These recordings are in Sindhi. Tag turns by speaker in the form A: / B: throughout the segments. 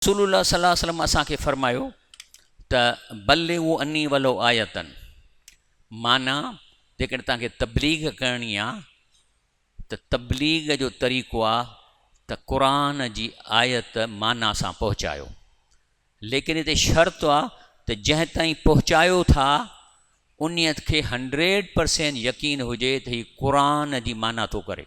A: رسول الله صلي الله عليه وسلم اسان کي فرمايو ته بلغوا عني ولو آية معنيٰ جيڪڏهن توهان کي تبليغ ڪرڻي آ ته تبليغ جو طريقو آ ته قرآن جي آيت معنيٰ سان پهچايو ليڪن هتي شرط آ ته جنهن تائين پهچايو ٿا انهيء کي هنڊريڊ پرسينٽ يقين هجي ته هي قرآن جي معنيٰ ٿو ڪري.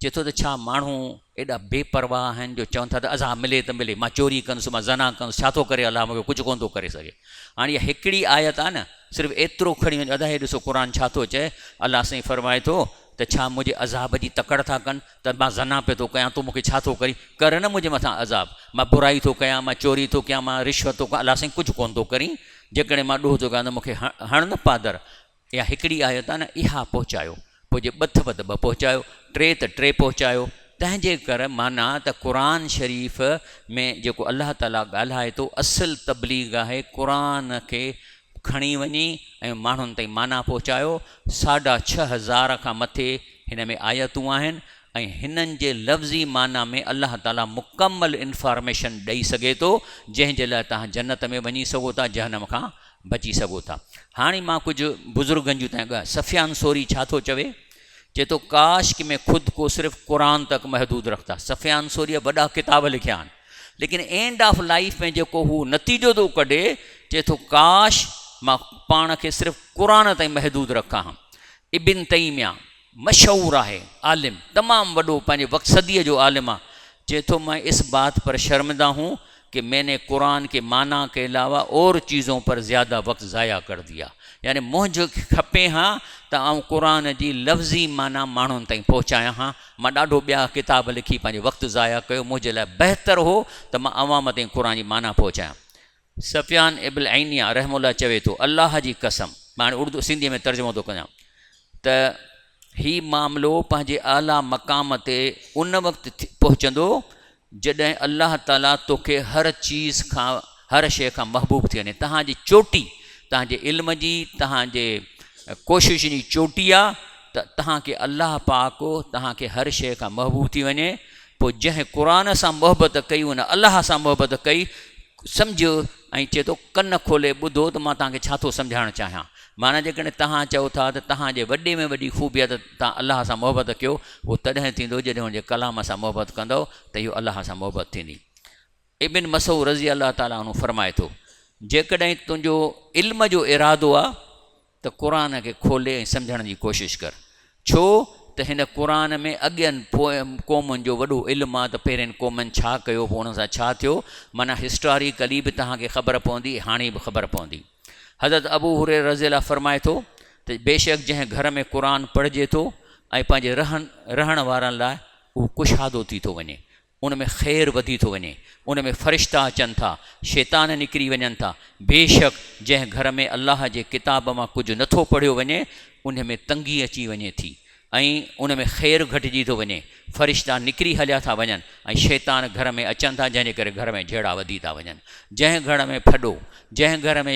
A: چئي ٿو ته ڇا ماڻهو ايڏا بي پرواهه آهن جو چون ٿا ته عذاب ملي ته ملي مان چوري ڪندس مان زنا ڪندس ڇا ٿو ڪري الله مون کي ڪجهه ڪونه ٿو ڪري سگهي هاڻي اها هڪڙي آيت آهي نه صرف ايترو کڻي وڃو ادا هي ڏسو قرآن ڇا ٿو چئي الله سائين فرمائي ٿو ته ڇا منهنجي عذاب جي تڪڙ ٿا ڪن ته مان زنا پي ٿو ڪيان تون مون کي ڇا ٿو ڪرين ڪر نه منهنجي مٿان عذاب مان برائي ٿو ڪيان مان چوري ٿو ڪيان مان رشوت ٿو ڪيان الله سائين ڪجهه ڪونه ٿو ڪرين جيڪڏهن مان ڏوهه ٿو ڪيان ته مون کي هڻ نه پادر يا هڪڙي آيو ته نه اها پهچايو، پوء جي ٻٿ وڌ ٻه پهچايو، ٽي ته ٽي پهچايو، تنهنجي ڪر معنيٰ ته قرآن شريف ۾ جيڪو الله تعاليٰ ڳالهائي ٿو اصل تبليغ آهي قرآن کي کڻي وڃي ۽ ماڻهن تائين معنيٰ پهچايو، ساڍا ڇهه هزار کان مٿي هن ۾ آيتون آهن ۽ هنن جي لفظي معنيٰ ۾ الله تعاليٰ مڪمل انفارميشن ڏئي سگهي ٿو جنهن جي لاء توهان جنت ۾ وڃي سگهو ٿا جهنم کان بچي سگهو ٿا. هاڻي مان ڪجهه بزرگن جون تائين ڳالهيون. سفيان ثوري ڇا ٿو چوي؟ چئي ٿو ڪاش ڪي مين خود ڪو صرف قرآن تڪ محدود رکتا. سفيان ثوريء وڏا ڪتاب لکيا آهن. ليڪن اينڊ آف لائيف ۾ جيڪو هو نتيجو ٿو ڪڍي، چئي ٿو ڪاش مان پاڻ کي صرف قرآن تائين محدود رکان ها. ابن تيميه، مشهور آهي عالم تمام وڏو پنهنجي وقت صديء جو عالم آ چي ٿو مين اس بات پر شرمنده هون ڪي مين ني قرآن ڪي معنيٰ ڪي علاوه اور چيزون پر زياده وقت ضايع ڪر ديا يعني منهنج کپي ها ته آئون قرآن جي لفظي معنيٰ ماڻهن تائين پهچايان ها مان ڏاڍو ٻيا ڪتاب لکي پنهنجو وقت ضايع ڪيو منهنجي لاء بهتر هو ته مان عوام تائين قرآن جي معنيٰ پهچايان سفيان ابن عينية رحمه الله چوي ٿو، الله جي قسم، مان هاڻي اردو، سنڌيء ۾ ترجمو ٿو ڪيان، ته هي معاملو پنهنجي اعليٰ مقام تي ان وقت پهچندو جڏهن الله تعاليٰ توکي هر چيز کان، هر شيء کان محبوب ٿي وڃي. توهان جي چوٽي، توهان جي علم جي، توهان جي ڪوششن جي چوٽي آ ته توهان کي الله پاڪ توهان کي هر شيء کان محبوب ٿي وڃي. پوء جنهن قرآن سان محبت ڪئي، ان الله سان محبت ڪئي. سمجهه ۽ چئي ٿو ڪن کولي ٻڌو ته مان توهان کي ڇا ٿو سمجهائڻ چاهيان. معنيٰ جيڪڏهن توهان چئو ٿا ته توهان جي وڏي ۾ وڏي خوبي آهي ته توهان الله سان محبت ڪيو اهو تڏهن ٿيندو جڏهن هن جي ڪلام سان محبت ڪندؤ ته اهو الله سان محبت ٿيندي. ابن مسعود رضي الله تعالٰي عنه فرمائي ٿو جيڪڏهن تنهنجو علم جو ارادو آهي ته قرآن کي کولي ۽ سمجهڻ جي ڪوشش ڪر. ڇو ته هن قرآن ۾ اڳين پوئين قومن جو وڏو علم آ ته پهرين قومن ڇا ڪيو پوء انهن سان ڇا ٿيو معنيٰ هسٽاريڪلي به توهان کي خبر پوندي ۽ هاڻي به خبر پوندي حضرت ابو هريره رضي الله فرمائي ٿو ته بيشڪ جنهن گهر ۾ قرآن پڙهجي ٿو ۽ پنهنجي رهن رهڻ وارن لاء اهو ڪشادو ٿي ٿو وڃي ان ۾ خير وڌي ٿو وڃي، ان ۾ فرشتا اچن ٿا، شيطان نڪري وڃن ٿا، بيشڪ جنهن گهر ۾ الله جي ڪتاب مان ڪجهه نه ٿو پڙهيو وڃي، انهي ۾ تنگي اچي وڃي ٿي ۽ ان ۾ خير گهٽجي ٿو وڃي، فرشتا نڪري هليا ٿا وڃن ۽ شيطان گهر ۾ اچن ٿا جنهن جي ڪري گهر ۾ جهيڙا وڌي ٿا وڃن، جنهن گهر ۾ ڦڏو، جنهن گهر ۾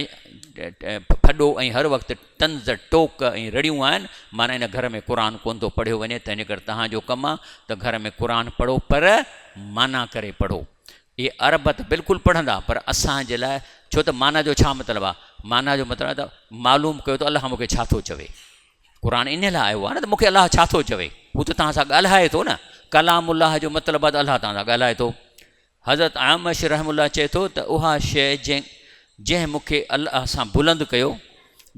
A: ڦڏو ۽ هر وقت. طنز، ٽوڪ ۽ رڙيون آهن، معنيٰ هن گهر ۾ قرآن ڪونه ٿو پڙهيو وڃي، تنهن ڪري توهان جو ڪم آهي ته گهر ۾ قرآن پڙهو پر معنيٰ ڪري پڙهو. اهي عرب ته بلڪل پڙهندا پر اسان جي لاء ڇو ته معنيٰ جو ڇا مطلب آهي؟ معنيٰ جو مطلب آهي ته معلوم ڪيو ته الله مون کي ڇا ٿو چوي. قرآن انهي لاء آيو آهي نه ته مون کي الله ڇا ٿو چوي. هو ته توهان سان ڳالهائي ٿو نه. ڪلام الله جو مطلب آهي ته الله توهان سان ڳالهائي ٿو. حضرت اعمش رحمه الله چئي ٿو ته اها شيء جنهن جنهن مون کي الله سان بلند ڪيو،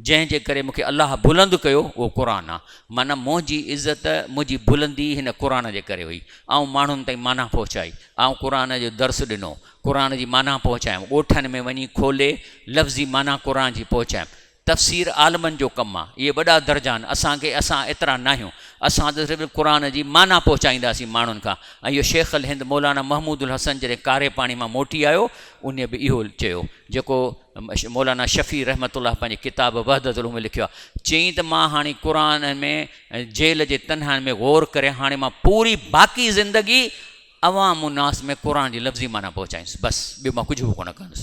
A: جنهن جي ڪري مون کي الله بلند ڪيو اهو قرآن آهي. معنيٰ منهنجي عزت، منهنجي بلندي هن قرآن جي ڪري هئي. آئون ماڻهن تائين معنيٰ پهچائي، آئون قرآن جو درس ڏنو، قرآن جي معنيٰ پهچايم، ڳوٺن ۾ وڃي کولي لفظي معنيٰ قرآن جي پهچايم. تفسير عالمن جو ڪم آ. اهي وڏا درجا آهن. اسان کي اسان ايترا ناهيون. اسان ته صرف قرآن جي معنيٰ پهچائينداسين ماڻهن کان ۽ اهو شيخ الهند مولانا محمود الحسن جڏهن ڪاري پاڻي مان موٽي آيو انهي به اهو چيو جيڪو مولانا شفيع رحمة الله پنهنجي ڪتاب وحدة الامة ۾ لکيو آ چيائين ته مان هاڻي قرآن ۾ جيل جي تنهائين ۾ غور ڪري هاڻي مان پوري باقي زندگي عوام الناس ۾ قرآن جي لفظي معنيٰ پهچائيندس بس ٻيو مان ڪجهه به ڪونه ڪندس